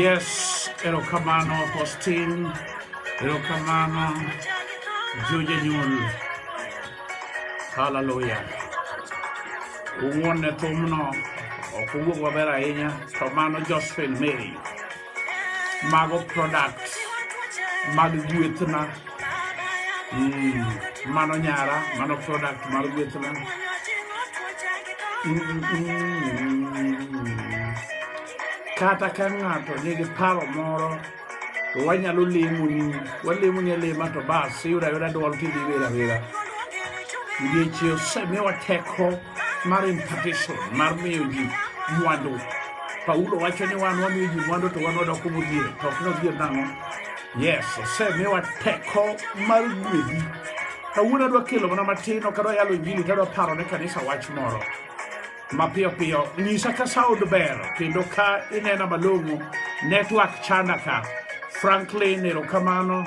Yes, erokamano Faustin, erokamano jojanyuol. Haleluya. Ung'won ne thumno, ok owuog maber ahinya, to mano Josephine Mary. mago products mag gwethna mm, mano nyara mano product mar gwethna mm, mm, kata ka ng'ato nigi paro moro to wanyalo lemoni walemoni alema to bas iyudo ayuda dwol kidhi wera wera ndiechie osemiwa teko mar impartition mar miyo ji mwandu paulo wacho ni wan wamiyo ji mwandu to wan wadoko modhier to ok nodhier nang'o yes osemiwa teko mar gwedhi kawuono adwa kelo mana matin ok adwa yalo injili to adwa paro ne kanisa wach moro mapiyo piyo nyisa ka sound ber kendo ka inena malong'o network chanda ka franklin erokamano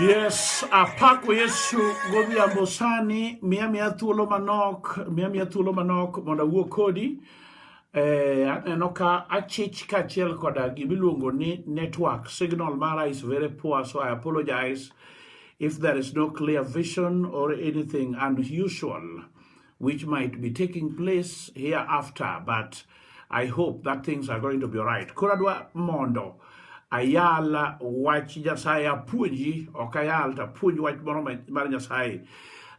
Yes, apako Yesu godhiambo sani, miya miya thuolo manok, miya miya thuolo manok mondo awuo kodi. Eh, aneno ka achich kaachiel koda gimiluongo ni network. Signal mara is very poor, so I apologize if there is no clear vision or anything unusual. which might be taking place hereafter, but I hope that things are going to be right. Kuradwa mondo ayala wach Nyasaye apuonji, ok ayal to apuonj wach moro mar Nyasaye.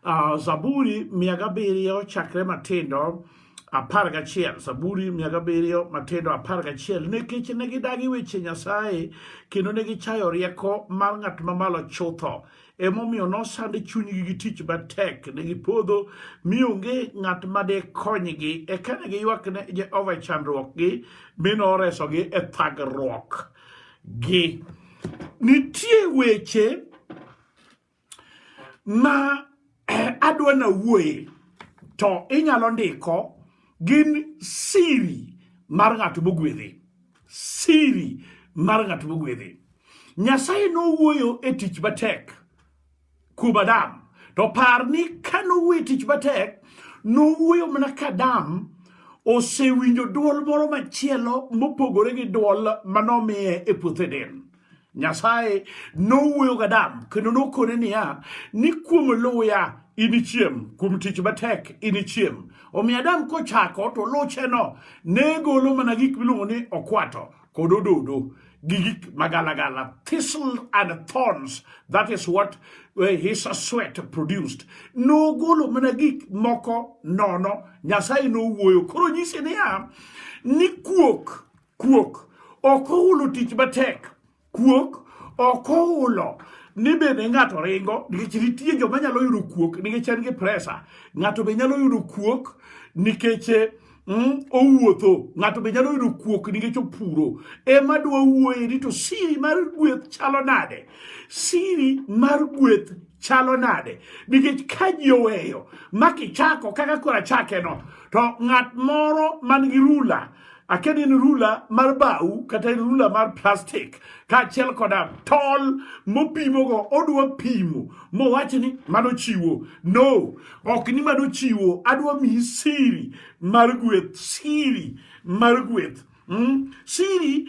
Uh, Zaburi mia gabiriyo chakre matindo apar gachiel Zaburi mia gabiriyo matindo apar gachiel nikech ne gidagi weche Nyasaye kendo ne gichayo rieko mar ng'at mamalo chutho emomiyo nosand chunygi gi tich matek ne gipodho mi onge ng'at ma dekonygi eka ne giywak ne jehova e chandruokgi mi noresogi e thagruok gi nitie weche ma eh, adwa na wuoye to inyalo ndiko gin siri mar ng'at mogwedhi Siri mar ng'at mogwedhi. Nyasaye nowuoyo e tich matek kuom Adam. To par ni ka nowuoyo e tich matek, nowuoyo mana ka Adam osewinjo dwol moro machielo mopogore gi dwol manomiye e puoth Eden. Nyasaye nowuoyo gi Adam kendo nokone niya, ni kuom luya inichiem, kuom tich matek inichiem. Omiyo Adam kochako to lucheno ne golo mana gik miluongo ni okwato kod ododo gi gik magalagala, thistle and thorns, that is what eh, his sweat produced. Nogolo mana gik moko nono, Nyasaye nowuoyo. Koro nyisi niya, ni kuok Kuok ok ohulo tich matek. Kuok ok ohulo ni bende ng'ato ringo nikech nitie joma nyalo yudo kuok nikech en gi presa. Ng'ato be nyalo yudo kuok nikech mm, owuotho. Ng'ato be nyalo yudo kuok nikech opuro. Ema dwa wuoye ni to siri mar gweth chalo nade? Siri mar gweth chalo nade nikech ka ji oweyo ma kichako kaka koro achakeno to ng'at moro man gi rula aket in rula mar bau kata in rula mar plastik kaachiel koda tol mopimogo odwa pimo mowach ni mano chiwo no ok ni mano chiwo adwa miyi siri mar gweth siri mar gweth Mm. Siri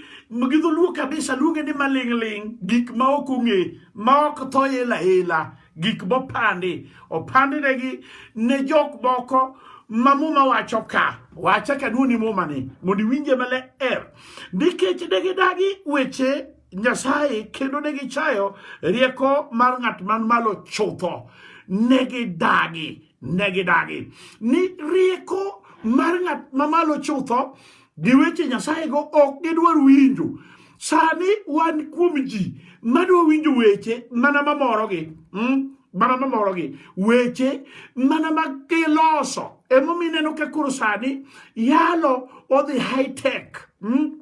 gi dholuo kabisa luonge ni maling'ling' gik ma ok ong'e ma ok tho ela ela gik mopandi opandinegi ne jok moko ma muma wacho ka wacha kanuni muma ni mondo iwinje maler nikech ne gidagi weche nyasaye kendo ne gichayo rieko mar ng'at man malo chutho ne gidagi ne gidagi ni rieko mar ng'at mamalo chutho gi weche Nyasayego ok gidwar winjo. Sani wan kuom ji madwa winjo weche mana mamorogi mm? mana mamorogi weche mana ma giloso emomiyo ineno ka koro sani yalo odhi high tech mm?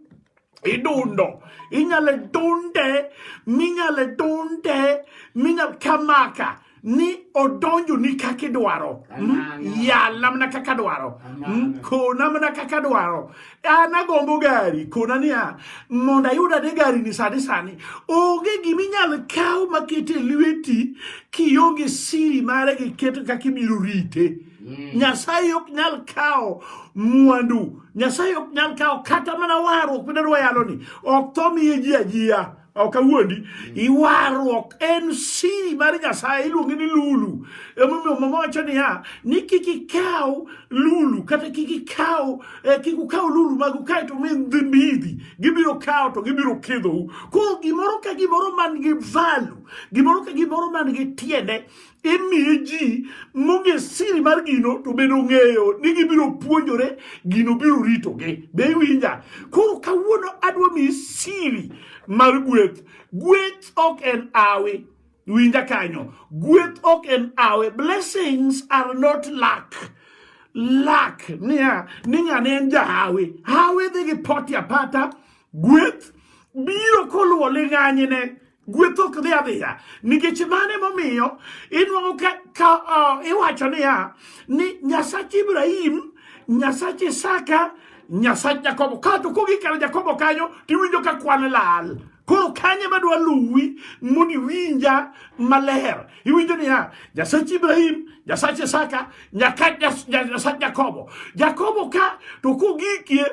idundo inyalo dunde minyalo dunde minyalo kamaka ni odonjo ni kaka idwaro hmm? yala mana kaka dwaro hmm? kona mana kaka dwaro an agombo gari kona niya mondo ayud ade gari ni sani sani onge gima inyalo kaw maket e lweti kionge siri mare gi keto kaka ibiro rite hmm. nyasaye ok nyal kawo mwandu nyasaye ok nyal kawo kata mana warruok midadwa yalo ni ok tho miye ji ajiya ok awuondi iwarruok en siri mar nyasaye iluonge ni lulu emomiyo mama wacho niya ni kik ikaw lulu kata kik ikaw eh, kik ukaw lulu mag ukae to mi mbidhi gibiro kawo to gibiro kidhou koro gimoro ka gimoro man gi valu gimoro ka gimoro man gi tiende imiyo ji monge siri mar gino to bedo ng'eyo ni gibiro puonjore gino biro ritogi be iwinja koro kawuono adwa miyi siri mar gweth gweth ok en awi winja kanyo gweth ok en awe blessings are not luck luck niya ni ng'ane en jahawi hawi dhi gi poti apata gweth biro koluwo ling'anyne Gweth ok dhi adhiya nikech mane momiyo inwang'o ka, ka uh, iwacho niya ni Nyasach Ibrahim, Nyasach Isaka, Nyasach Jakobo. Kato kogi kar Jakobo kanyo tiwinjo ka kwan lal. Koro kanye madwa luwi mondo iwinja maler. Iwinjo niya, Nyasach Ibrahim, Nyasach Isaka, Nyasach Jakobo. Jakobo ka to kogikie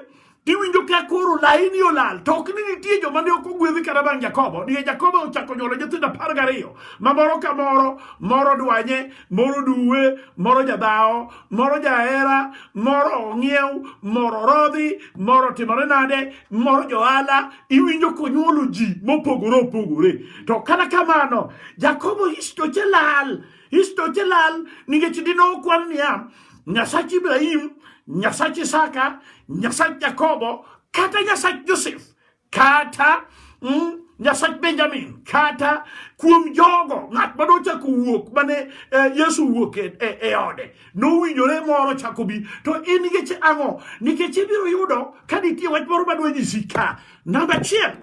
Iwinjo ka koro laini olal to ok ni nitie joma ne ok ogwedhi kata bang' Jakobo nikech Jakobo ochako nyuolo nyithindo apar gariyo ma moro ka moro moro dwanye moro duwe moro jadhawo moro jahera moro ong'iew moro rodhi moro timore nade moro johala iwinjo konyuolo ji mopogore opogore to kata kamano Jakobo histoche lal Isto chelal ningechi dino kwal niya Nyasach Ibrahim, Nyasach Isaka, Nyasach Jakobo, kata Nyasach Joseph, kata mm, Nyasach Benjamin, kata kuom jogo ng'at ma nochako wuok mane eh, Yesu wuok e, e, e ode nowinjore moro chako bi to in nikech ang'o nikech ibiro yudo ka nitie wach moro madwa nyisi ka namba achiel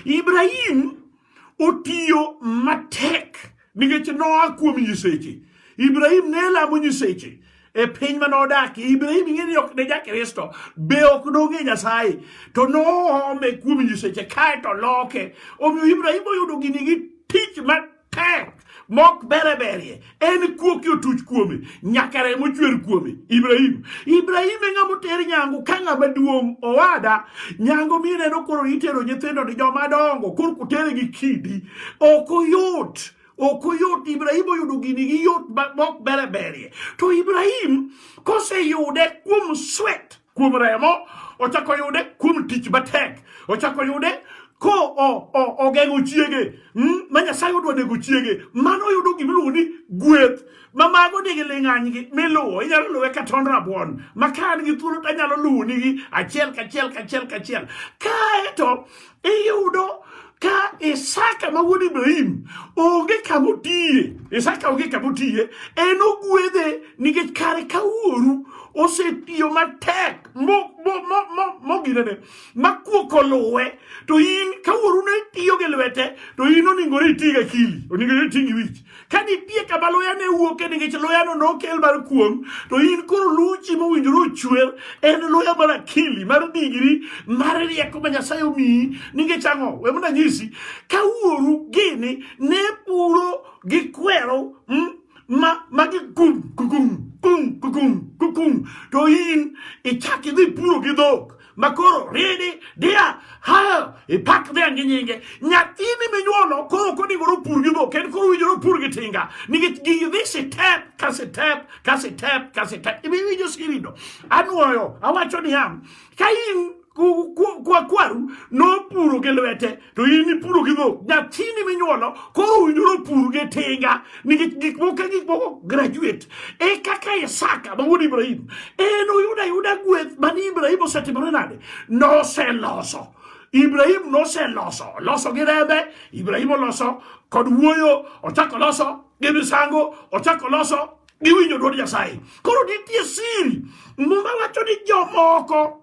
Ibrahim otiyo matek nikech noa kuom nyiseche. Ibrahim ne lamo nyiseche e piny mane odakie ibrahim ing'e ni ok ne jakristo be ok nong'e nyasaye to noome kuom nyiseche kae to loke omiyo ibrahim oyudo gini gi tich ma tek mok bere berie en kuo ki otuch kuome nyaka remo chwer kuome ibrahim ibrahim e ng'ama oter nyangu ka ng'ama duong' owada nyangu mineno koro itero nyithindo ni joma dongo koro kutere gi kidi ok oyot ok oyot ibrahim oyudo gini gi yot mok bere berie to ibrahim koseyude kuom swet kuom remo, ochako yude kuom tich matek, ochako yude ko ogeng'o chiege hmm, ma Nyasaye odwa nego chiege, mano oyudo gima iluongo ni gweth ma mago nigi ling'anygi miluwo. Inyalo luwe ka tond rabuon ma ka an gi thuolo to anyalo luwonigi achiel kachiel kachiel kachiel. Kaeto iyudo ka Isaka ma wuod Ibrahim onge kama otiye Isaka onge kama otiye en ogwedhe nikech kare ka wuoru osetiyo matek moginene makuok oluwe to in ka wuoru ne tiyo gi lwete to in oningore iti gi akili oningore iti gi wich ka nitie kama luya ne wuoke nikech luyano nokel mar kuong to in koro luw chi mowinjore ochwer en luya mar akili mar digri mar rieko ma nyasaye omiyi nikech ang'o we mna nyisi ka wuoru gini ne puro gi kwero mm, ma ma gi kum kukum kum kukum kukum to in ichak idhi puro gi dhok makoro ridi dia hayo ipak dhiang' gi nyinge nyathini minyuolo koro ok onego opur gi dhok en koro winjore opur gi tinga nikech gigi dhi sitep ka sitep ka sitep ka sitep ibiwinjo sirido anwoyo awacho niya ka in kwaru nopuro gi lwete to in ipuro gi dhok nyathini minyuolo koro owinjore opur gi tinga nikech gik moko gik moko graduate e kaka isaka ma wuod ibrahim en oyudo ayuda gweth mane ibrahim osetimore nade noseloso ibrahim noseloso loso gi rembe ibrahim oloso kod wuoyo ochako loso gi misango ochako loso gi winjo dwod nyasaye koro nitie siri muma wacho ni jomoko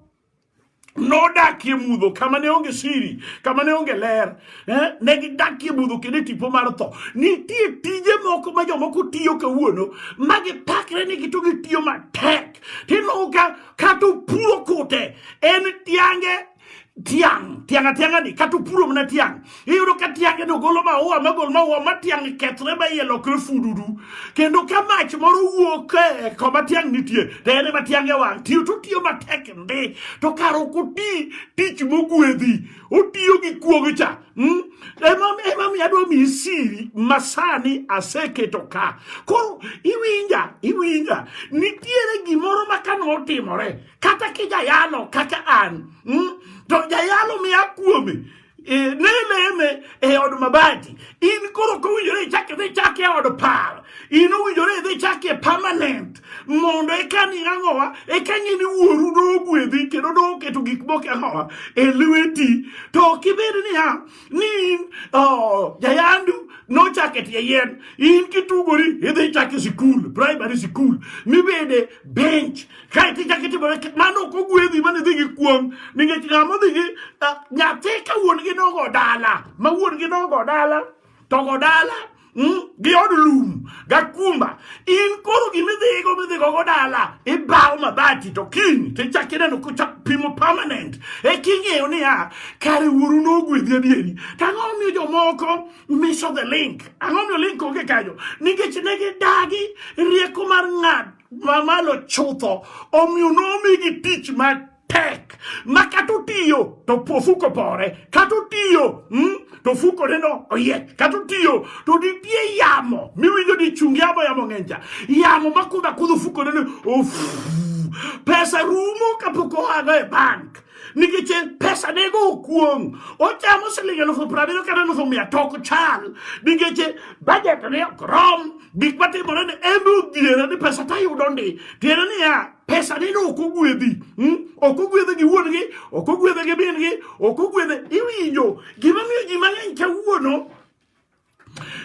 nodakie mudho kama ne onge siri kama ne onge ler eh? ne gidakie mudho kendo e tipo mar tho nitie tije moko ma jomoko tiyo kawuono ma gipakre ni gito gitiyo matek tinoo ka kata opuro kute en tiange tiang' tiang' atiang'ani kata opuro mana tiang' iyudo ka tiange no golo maua magol maua ma tiang' kethre ma iye lokre fuduru kendo ka mach moro wuok e koma tiang' nitie to en ema tiange wang' tiyo to tiyo matek ndi to kar ok oti tich mogwedhi otiyo gi kuogo cha hmm? emamiyo adwa miyi siri masani aseketo ka koro iwinja iwinja nitiere gimoro ma ka notimore kata kijayalo kaka an hmm? to jayalo miya kuome e, neleme e od mabati in koro ok owinjore ichak idhi chak e od pal in owinjore idhi chak e permanent mondo eka ni ang'owa eka ng'e ni wuoru dogwedhi kendo doketo gik moko e ang'owa e lweti to ok ibed niya ni in oh, jayandu nochak e tie yien in kitugori idhi chak e sikul primary sikul mibede bench kae to ichako itimone mano ok ogwedhi mane dhi gi kuong nikech ng'a modhi gi eh, nyathi ka wuon gi nogo dala ma wuon gi nogo dala to go dala hmm, gi od lum gakumba in koro gimidhigo midhigo go dala ibawo mabati to kiny to ichak ineno kochak pimo permanent e king'eyo niya kare wuoru nogwedhi adieri tang'o miyo jomoko miso the link ang'o miyo link onge kanyo nikech ne gidagi rieko mar ng'ad mamalo chutho omiyo nomigi tich matek ma kata otiyo to ofuko pore kata otiyo hmm? to fuko neno oye kata otiyo to nitie yamo miwinjo ni chung yamo yamo ng'enja yamo makudho akudho fuko neno pesa rumo kapok oago e bank nikech pesa ne go okuong ochamo siling elufu prabiriyo kata elufu mia tok chal nikech bajet ne ok rom gik matimore ni embe odhiera ni pesa tayudo ndi tiende niya pesa ni no ok ogwedhi hmm? ok ogwedhe gi wuon gi ok ogwedhe gi min gi ok ogwedhe iwinjo gima miyo ji mang'eny kawuono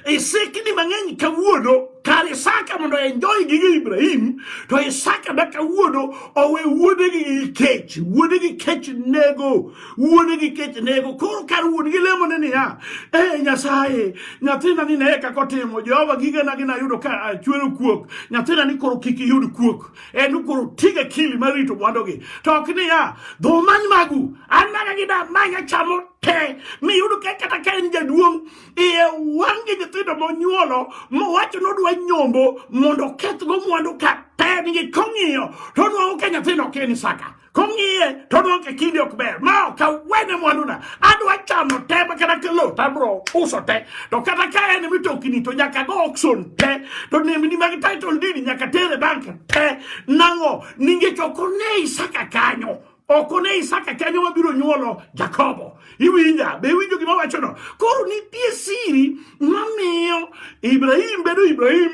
Isiki ni mang'eny kawuono kar Isaka mondo enjoy gige Ibrahim to Isaka ma kawuono owe wuode gi kech wuode gi kech nego wuode gi kech nego koro kar wuon gi lemo ne niya e Nyasaye nyathina ni ne eka kotimo Jehova gige na gina yudo ka chwero kuok nyathina ni koro kik yud kuok en koro tiga kili marito mwandogi to ok niya dho many magu an mana gi da manya chamo kee miyudo ka kata ka en jaduong' iye wang'e nyithindo monyuolo mowacho ni odwa nyombo mondo okethgo mwandu ka tengi kong'iyo to onwang'o ka nyathino ok en Isaka kong'iye to onwang'o ka kinde ok ber ma ok awene mwanduna adwa chamo te ma kata kelo to abro uso te to kata ka en mitokni to nyaka go auction te to nembni mag title deed nyaka tere bank te nang'o ningech ok one Isaka kanyo ok one Isaka kanyo mabiro nyuolo Jakobo. Iwinja, be iwinjo gima wachono? Koro nitie siri mamiyo Ibrahim bedo Ibrahim,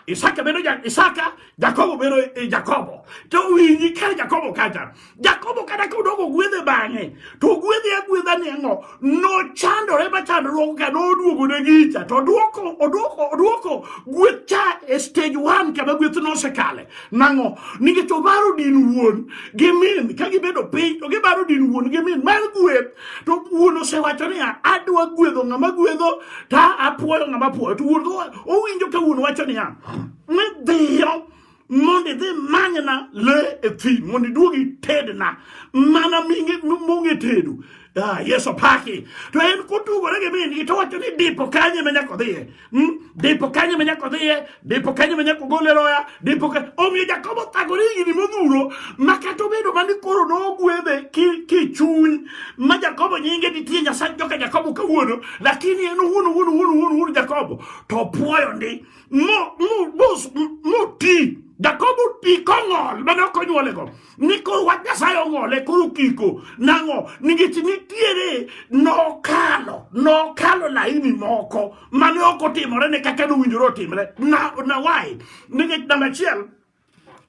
Isaka bedo ja, Isaka, Jakobo bedo e, Jakobo. To winji kar Jakobo kacha. Jakobo kata ka odoko gwedhe bang'e, to gwedhe agwedha ni ang'o? nochandore ma chandruok ka noduogo ne gicha to oduoko oduoko oduoko gweth cha e stage one kama gweth nosekale nang'o nikech obaro din wuon gi min ka gibedo piny to gibaro din wuon gi min mar gweth to wuon osewacho niya adwa gwedho ng'ama gwedho ta apwoyo ng'ama pwoyo to wuon owinjo ka wuon wacho niya ni dhiyo mondo idhi manyna le e thim mondo iduog itedna mana mong'e tedo Ah, Yesu paki. To en kutugo rege mini gi towacho ni dipo kanye me nyako dhiye. Hmm? Dipo kanye me nyako dhiye, dipo kanye me nyako gole roya, dipo ka omiyo Jakobo thagore gini modhuro ma kata obedo mani koro nogwedhe ki ki chuny ma Jakobo nyinge nitie Nyasaye joka Jakobo kawuono lakini en wuon wuon wuon wuon Jakobo to puoyo ndi moti Jakobo ti kong'ol mane ok onyuolego ni koro wach Nyasaye ong'ole koro kiko nang'o nikech nitiere nokalo nokalo laini moko mane ok otimore ne kaka nowinjore otimre na, na why nikech namba achiel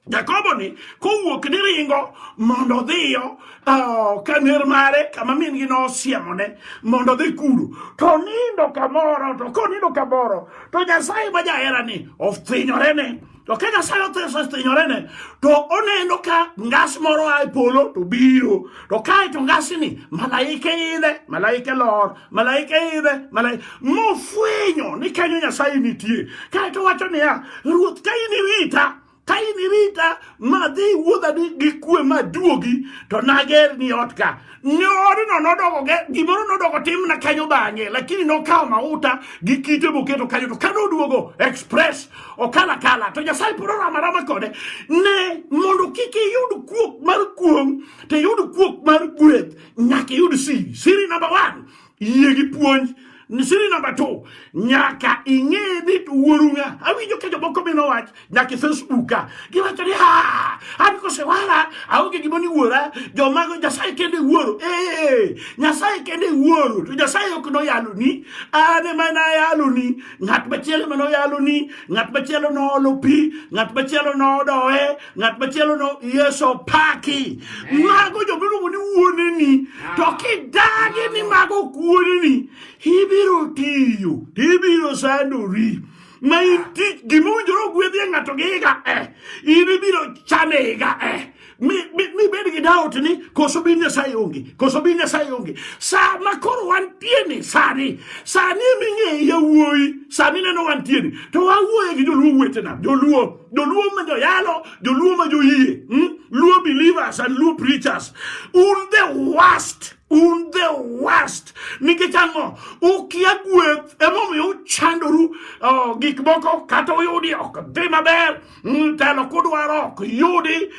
Jakobo ni kowuok ni ringo mondo odhiyo uh, kaner mare kama min gi nosiemone mondo dhi kuro to nindo kamoro to konindo kamoro to Nyasaye ma jahera ni othinyorene to ka Nyasaye othinyorene to oneno ka ngas moro a e polo to biro to kae to ngasini malaike idhe malaike lor malaika idhe malaika mofwenyo ni kanyo nyasaye nitie kaeto wacho niya ruoth ka in irita ka in irita madhi wuodha gi kwe maduogi to nager ni ot ka nyorno nodoko gimoro nodoko timna kanyo bang'e lakini nokawo mauta gi kite moketo kanyo to kane oduogo express okala kala to nyasaye pod oramarama kode ne mondo kik iyud kuok mar kuong' to iyud kuok mar gweth nyaka iyud siri siri number one yie gi puonj siri number two nyaka ing'e ni wuoru ng'a awinjo ka jomoko bino wach nyaka e facebook ka giwacho ni ha an kosewara aonge gimo ni wuora jomago nyasaye kende wuoro ee nyasaye kende wuoro to nyasaye ok noyaloni an ema nayaloni ng'at machielo ema noyaloni ng'at machielo noolo pi ng'at machielo nodoe ng'at machielo no yeso paki mago joma iluongo ni wuoneni to kidagi ni mago ok wuoneni ibiro tiyo to ibiro sandori ma in tich gima owinjore ogwedhie ng'ato gi higa e in ibiro chame higa e mibed gi daot ni koso bin nyasaye onge koso bin nyasaye onge sa ma koro wantie ni sani sani ming'eyo yawuoyi sani neno wantie ni to wawuoye gi joluo wetena joluo Joluo ma joyalo, Joluo ma joyie, hmm? Luo believers and Luo preachers. Un the worst. Un the worst. Nikech ang'o? Ukia gweth emomiyo uchandoru oh, gik moko kata uyudi ok dhi maber. Hmm, telo kudwaro ok yudi.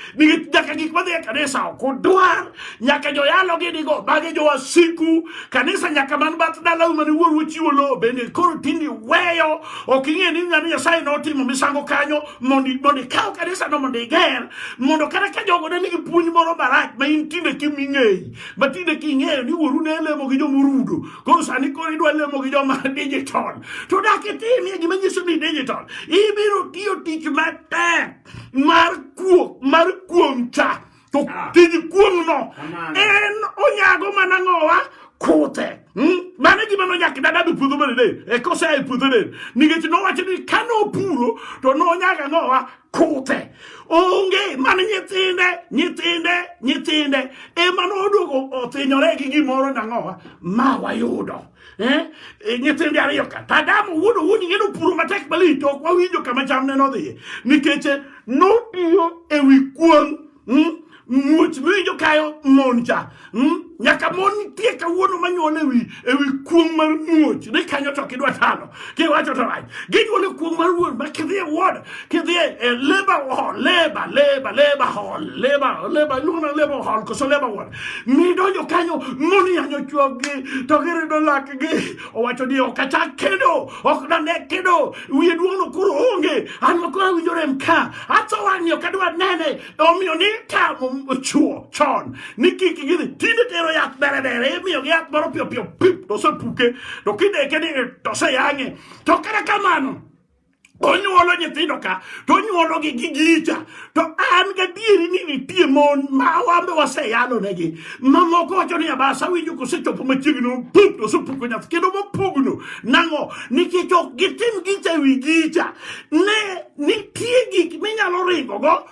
nyaka gik madhi e kanisa ok udwar nyaka joyalo gidigo magi jowasiku kanisa nyaka man bath dalau mane wuoru chiwo lowo bende koro tindi weyo ok ing'e ni ng'ani nyasaye notimo misango kanyo mondo ikaw kanisa no mondo iger mondo kata ka jogo ne nigi puonj moro marach ma in tinde kiming'eyi ma tinde king'eyo ni wuoru ne lemo gi jomorudo koro sani koro idwa lemo gi joma digital to dak itimie gima nyiso ni digital ibiro tiyo tich matek mar kuok mar kuong cha to ah. tij kuong no en onyago mana ng'owa kute hmm? mano gima nonyaka dadabi puodho manene e kose e puodho nen nikech nowacho ni ka nopuro to nonyaga ng'owa kute onge mana nyithinde nyithinde nyithinde ema noduogo othinyore gi gimoro nang'owa ma wayudo eh, eh nyithindi ariyo ka tadam wuod owuon ng'edo puro matek malich to ok wawinjo kama cham ne nodhiye nikech eh, notiyo e wi kuon hmm? muoch miwinjo kayo mon cha hmm? nyaka mon nitie kawuono manyuol ewi ewi kuong mar muoch ni kanyo to kidwa tano kiwacho to rach ginyuole kuong mar wuon ma kidhi e ward kidhi e, e labor hall labor labor labor hall labor labor iluongo na labor hall koso labor ward midonjo kanyo moniyanyo chwoggi to girido lakgi owacho ni ok achak kendo ok nane kendo wiye duong'no koro onge an makoro awinjo rem ka atho wang'ni ok adwa nene omiyo ni tamo chuo chon ni kik gidhi tinde tero yath berebere imiyogi yath moro piyopiyo pip to osepuke to kideke ni to oseyang'e to kata kamano onyuolo nyithindo ka to onyuologi gi gicha to an gadieri ni nitie mon ma wambe waseyalonegi mamoko wacho ni abasa winjo kosechopo machiegni pup to osepuko nyath kendo mopugno nang'o nikech ok gitim gicha e wi gicha ne nitie gik minyalo ringogo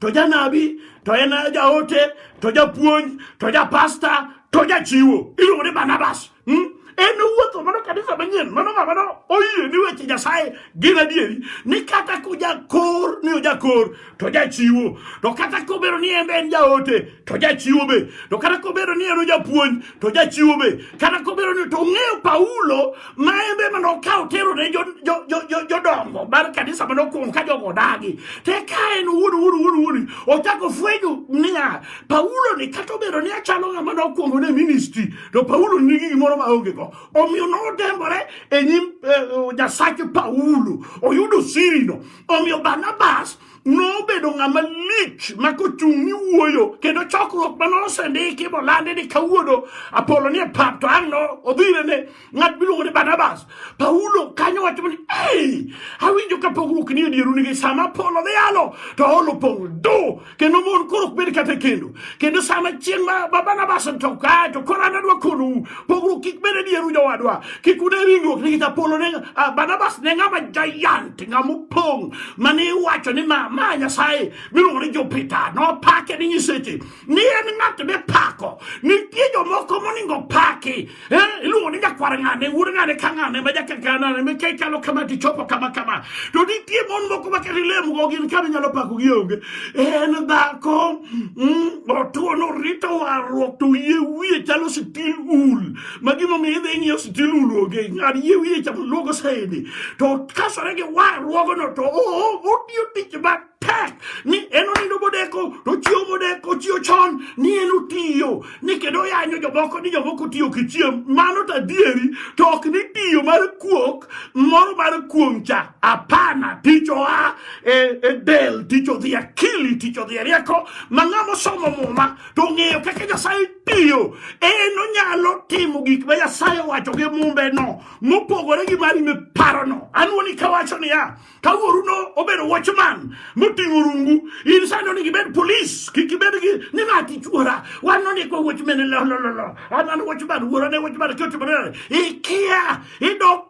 to janabi to en jaote to japuonj to japasta to jachiwo iluongo ni barnabas hmm? en wuotho mano kanisa manyien mano ng'ama no oyie ni weche nyasaye gin adieri ni kata kojakor ni ojakor to jachiwo to kata kobedo ni en be en jaote to jachiwo be to kata kobedo ni en ojapuonj to jachiwo be kata kobedo ni to ong'eyo Paulo ma en be mane okawo tero ne jodongo mar kanisa mane okuongo ka jogo odagi te ka en wuod wuod wuod wuod ochako fwenyo niya Paulo ni kata obedo ni achalo ng'ama ne okuongo ne ministry to Paulo nigi gimoro ma onge go omiyo nodembore e nyim eh, Nyasache Paulo oyudo sirino omiyo Barnabas nobedo ng'ama lich ma kochung' ni wuoyo kendo chokruok ma nosendiki molandi ni kawuono apolo ni e pap to ang' no odhire ne ng'at miluongo ni barnabas paulo kanyo wacho ni ei awinjo ka pogruok ni edieru nigi sama apolo dhi yalo to olo pong' do kendo mon koro ok bed kata e kendo kendo sama chieng' ma barnabas to kae to koro an adwa konou pogruok kik bede dier u jowadwa kik une ringruok nikech apolo ne uh, barnabas ne ng'ama giant ng'ama opong' mane iwacho ni ma, ma nyasaye miluongo ni jupiter nopake ni nyiseche ni en ng'at mipako nitie jomoko moningo paki eh, iluongo ni nyakwar ng'ane wuod ng'ane ka ng'ane ma jakakanane mike chalo kama tichopo kama kama to nitie mon moko ma kata ilemgo gin kama inyalo pako gionge en dhako mm, Otuo norito warruok to yie wiye chalo sitil ul ma gimomiyo idhi ing'iyo sitil ul onge ng'ad yie wiye chamo luogo saidi to kasore gi warruogono to otiyo tich matek ni en onindo modeko to chiewo modeko chiewo chon ni en otiyo ni kendo yanyo jomoko ni jomoko tiyo kichiem mano to adieri to ok ni tiyo mar kuok moro mar kuong' cha Hapana, ticho a e, e del, ticho di akili, ticho di rieko, ma ng'amo somo muma to ong'eyo kaka Nyasaye tiyo, en onyalo timo gik ma Nyasaye owacho gi mumbe no mopogore gi mari miparo no. An wuoni kawacho niya, ka wuoru no obedo watchman moting'o rungu, in sani onego ibed polis, kik ibed gi ni ng'ati chuora, wan nondikwa watchman, lo lo lo lo, an an watchman, wuora ne watchman, kiotimore, ikia, idok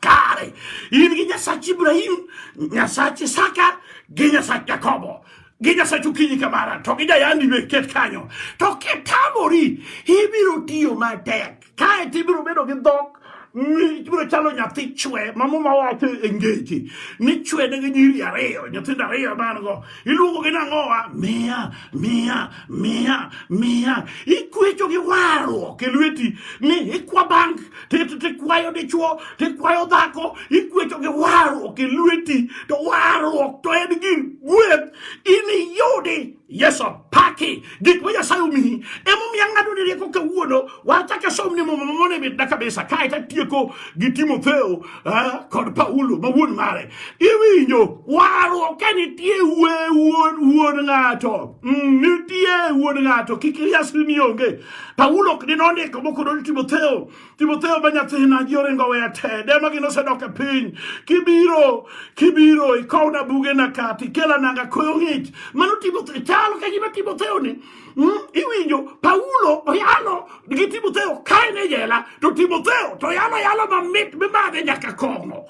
kare in gi nyasach ibrahim nyasach isaka gi nyasach jakobo gi nyasach okinyi kamara to gi jayandi be ket kanyo to kitamori ibiro tiyo matek kae to ibiro bedo gi dhok ibiro chalo nyathi chwe ma muma wacho e ngeche ni chwede gi nyiri ariyo nyithindo ariyo man go Iluongo gi nang'owa miya miya miya miya ikwecho gi warruok e lweti ni ikwa bank tikwayo dichuo tikwayo dhako ikwecho gi warruok e lweti to warruok to en gin gweth in iyudi yeso paki gik ma nyasaye omiyi emomiyo ang'ado ni rieko kawuono Wacha ka somni muma mamone mit daka bisa kae ta tieko gi Timotheo eh, kod Paulo ma wuon mare. Iwinjo waro ka nitie we wuon wuon ng'ato. Mm, nitie wuon ng'ato kik ilias ni onge. Paulo ok dino ndiko moko do Timotheo. Timotheo ba nyathina ji oringo weya te. Dema gino sedok e piny. Kibiro kibiro ikowna buge na kati kela nanga koyo ng'ich. Mano Timotheo chalo ka gima Timotheo ni Mm, iwinjo Paulo oyalo gi Timotheo kae ne jela to Timotheo to yalo yalo mamit mimadhe nyaka kong'o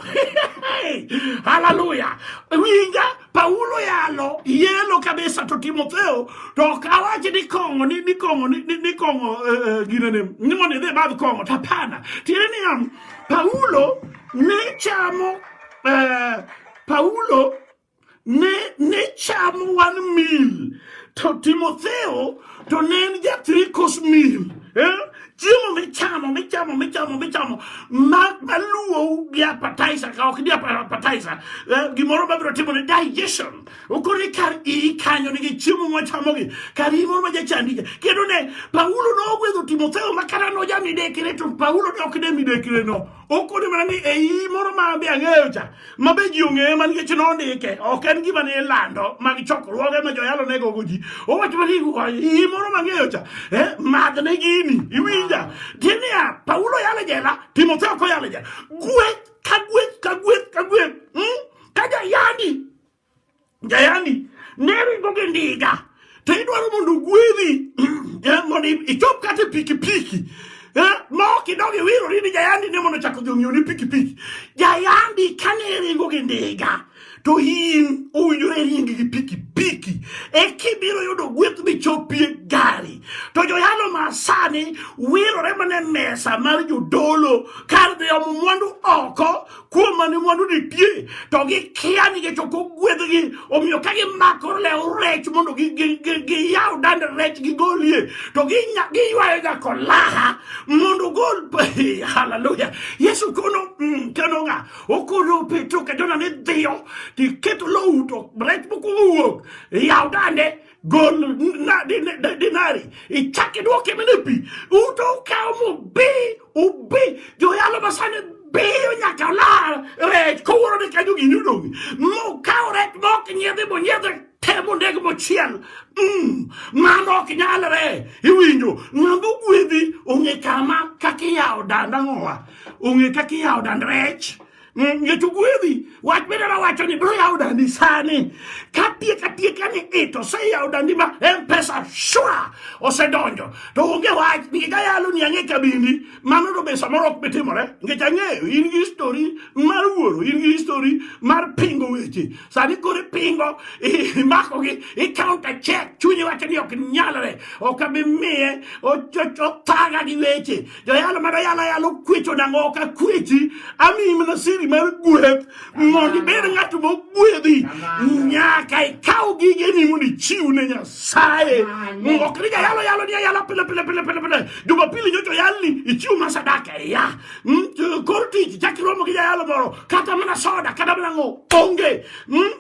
haleluya winja Paulo yalo yelo kabisa to Timotheo to ok awach ni kong'o ni ni kong'o ni ni kong'o uh, eh, eh, ginene ni mondo idhi madh kong'o to hapana tiende ni Paulo ne chamo uh, Paulo ne, ne chamo one meal to Timotheo to ne en ja three course meal eh? chiemo michamo michamo michamo michamo ma maluwou gi appetizer ka ok ni appetizer eh, gimoro mabiro timo ni digestion okoni kar iyi kanyo nigi chiemo mwachamogi kar iyi moro ma jachandija kendo ne paulo nogwedho timotheo ma kata nojamidekre to paulo ne ok ne midekre no okoni mana ni ei moro ma be ang'eyo cha ma be ji ong'eye ma nikech nondike ok en gima ne ilando mag chokruoge ma joyalo ne gogo ji owacho mana iyi moro ma ng'eyo cha eh, madhne gini iwinja tinia paulo yale jela timotheo koyale jela gweth ka gweth ka gweth ka gweth hmm? ka jayandi Jayandi ne ringo gi ndiga to idwaro mondo ogwedhi eh, mondo ichop kata pikipiki eh, ma ok idog iwirori ni jayandi ne mondo chako dhi ong'iewni pikipiki jayandi kane ringo gi ndiga to in owinjore ringi gi pikipiki e kibiro yudo gweth michopie gari to joyalo masani wirore mana mesa mar jodolo kar dhi omo mwandu oko kuom mane mwandu nitie to gikia nikech ok ogwedhgi omiyo ka gimako lew rech mondo giyaw dand rech gigolie to giywayo nyako laha mondo gol haleluya yesu kono mm, keno ng'a okono petro ka jona ni dhiyo tiketo lowu to rech mokwongo wuok yaw dande gol dinari ichak idwoke mene pi uto ukawo mubi ubi joyalo masani biyo nyaka olar rech kowuoro ni kanyo gini odong' mukawo rech mok nyiedhi monyiedhe temo ndege mochiel mm, mano ok nyalre iwinjo ng'ama ogwedhi ong'e kama kaka iyawo danda ng'owa ong'e kaka iyawo dand rech Mm, Jochugwedhi wach midara wacho ni biro yawo dandi sani katiek atiek ni it oseyawo dandi ma mpesa shwa osedonjo to onge wach nikech ayalo ni ang'e kabindi mano to be samoro ok bitimore nikech ang'eyo in gi histori mar wuoro in gi histori mar pingo weche sani koro ipingo imakogi ikaunta chek chunyi wacho ni ok nyalre ok abi miye othaga gi weche joyalo ma doyalo ayalo kwecho nang'o ok akwechi amiyi mana siri mar gweth mondo ibed ng'at mogwedhi nyaka ikaw gigeni mondo ichiw ne nyasaye ok ni jayalo yalo ni ayala pile pile pile pile pile jumapili nyocha oyalni ichiw ma sadaka ya hmm, kor tich chak iromo gi jayalo moro kata mana soda kata mana ng'o onge hmm?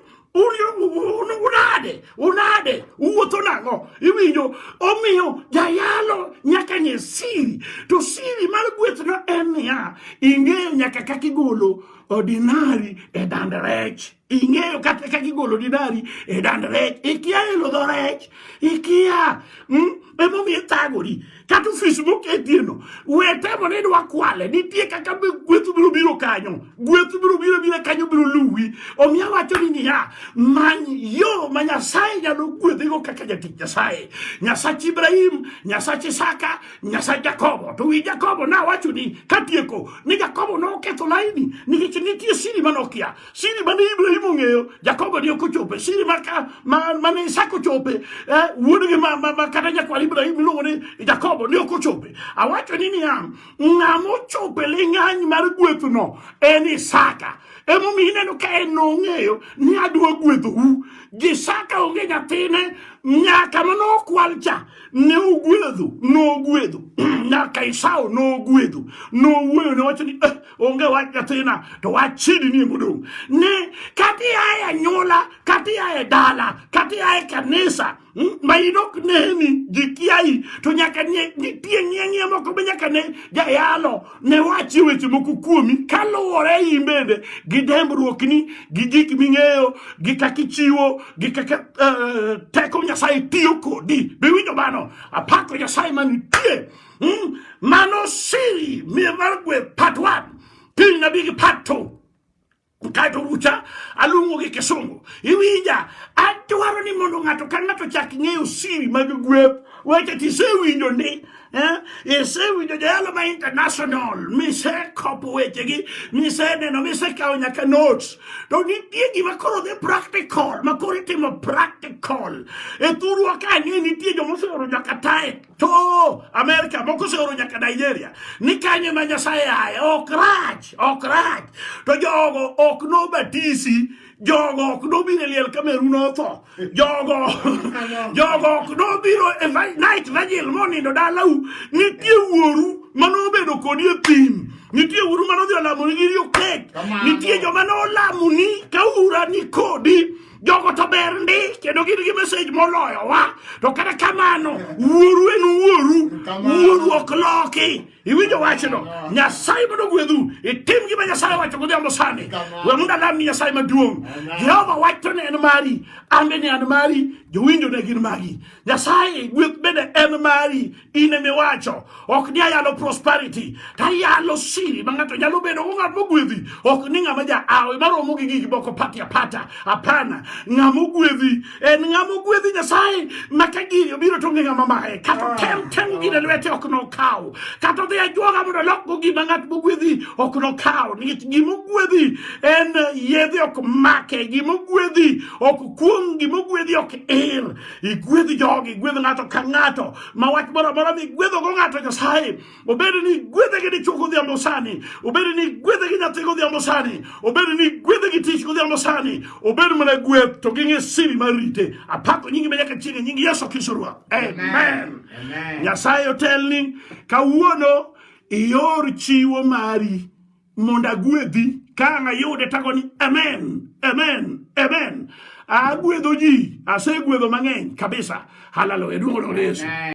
unade unade uwuotho nang'o iwinjo omiyo jayalo nyaka ng'e siri to siri mar gwethno en niya ing'eyo nyaka kaka igolo ordinari e dand rech ing'eyo kata kaka igolo ordinari e dand rech ikia elo dho rech ikia hmm? emomiyo ithagori kata ofis moketieno we temo ni idwa kwale nitie kaka gweth biro biro kanyo gweth biro biro biro kanyo biro luwi omiyo awacho ni niya many yo ma nyasaye nyalo gwedhigo kaka jatich nyasaye nyasach ibrahim nyasach isaka nyasach jakobo to wi jakobo nawacho ni katieko ni jakobo noketho laini nikech nitie siri manokia Siri mane Ibrahim ong'eyo, Jakobo ne ok ochope. Siri maka ma mane Isaka ochope, eh, wuodgi ma, ma, ma kata nyakwar Ibrahim iluongo ni Jakobo ne ok ochope. Awacho ni niya, ng'ama ochope ling'any mar gwethno en Isaka. Emomiyo ineno ka en nong'eyo ni adwa gwedhou. Isaka onge nyathine nyaka mane okwal cha ne ogwedhu, nogwedhu nyaka Esau nogwedhu, nowuoyo ne wacho ni eh, onge wach nyathina to wach chidi ni modong' ni kati aye anyuola kati aye dala kati aye kanisa hmm, ma in ok neni ji kiayi to nyaka nitie ng'ieng'ie moko be nyaka ne jayalo ne wachie weche moko kuomi kaluwore in bende gi dembruokni gi gik ming'eyo gi kaka ichiwo gi kaka eh, teko nyasaye tiyo kodi biwinjo mano apako nyasaye manitie Hmm? Mano siri miye mar gweth part one. Piny na bigi part two. Kaeto rucha aluongo gi kisungu. Iwinja, adwaro ni mondo ng'ato ka ng'ato chak ng'eyo siri mag gweth. Weche tisewinjo ni eh? isewinjo jayalo ma international misekopo wechegi miseneno misekawo nyaka notes to nitie gima koro dhi practical ma koro itimo practical e thurwa ka ang'e nitie joma oseoro nyaka tae to Amerika moko oseoro nyaka Nigeria ni kanye ma Nyasaye aye ok rach ok rach to jogo ok nobatisi jogo ok nobiro e liel kameru notho jogo jogo ok nobiro e night vigil monindo dalau nitie wuoru manobedo kodi e thim nitie wuoru manodhi olamoni gi riokek nitie joma nolamoni ka ura ni kodi jogo to ber ndi kendo gin gi message moloyowa to kata kamano wuoru en wuoru wuoru ok loki iwinjo wachno nyasaye mondo gwedhu itim gima nyasaye wacho godhiambo sani we mondo alam ni nyasaye maduong' jehova wacho ne en mari ambe ni an mari jowinjo ne gin magi nyasaye gweth bende en mari in emiwacho ok ni ayalo prosperity tayalo siri ma ng'ato nyalo bedo go ng'at mogwedhi ok ni ng'ama ja awe maromo gi gigi moko pati apata apana ng'ama ogwedhi en ng'ama ogwedhi nyasaye ma ka giri obiro to onge ng'ama maye kata ah, tem temo gine ah. lwete ok nokaw kata odhi ajwoga mondo olokgo gima ng'at mogwedhi ok nokaw nikech gima ogwedhi en yedhe ok make gima ogwedhi ok kuong gima ogwedhi ok ir Igwedh jogi, igwedh ng'ato ka ng'ato ma wach moro amora migwedhogo ng'ato Nyasaye, obed ni igwedhe gi dichwo godhiambo sani, obed ni igwedhe gi nyathi godhiambo sani, obed ni igwedhe gi tich godhiambo sani, obed mana gweth to ging'e siri mar rite. Apako nyingi ma nyaka chieng' e nying Yesu Kristo Ruoth. Amen. Nyasaye otelni kawuono ior chiwo mari mondo agwedhi ka ang' ayude tago ni amen amen amen agwedho ji asegwedho mang'eny kabisa haleluya duong' ne yesu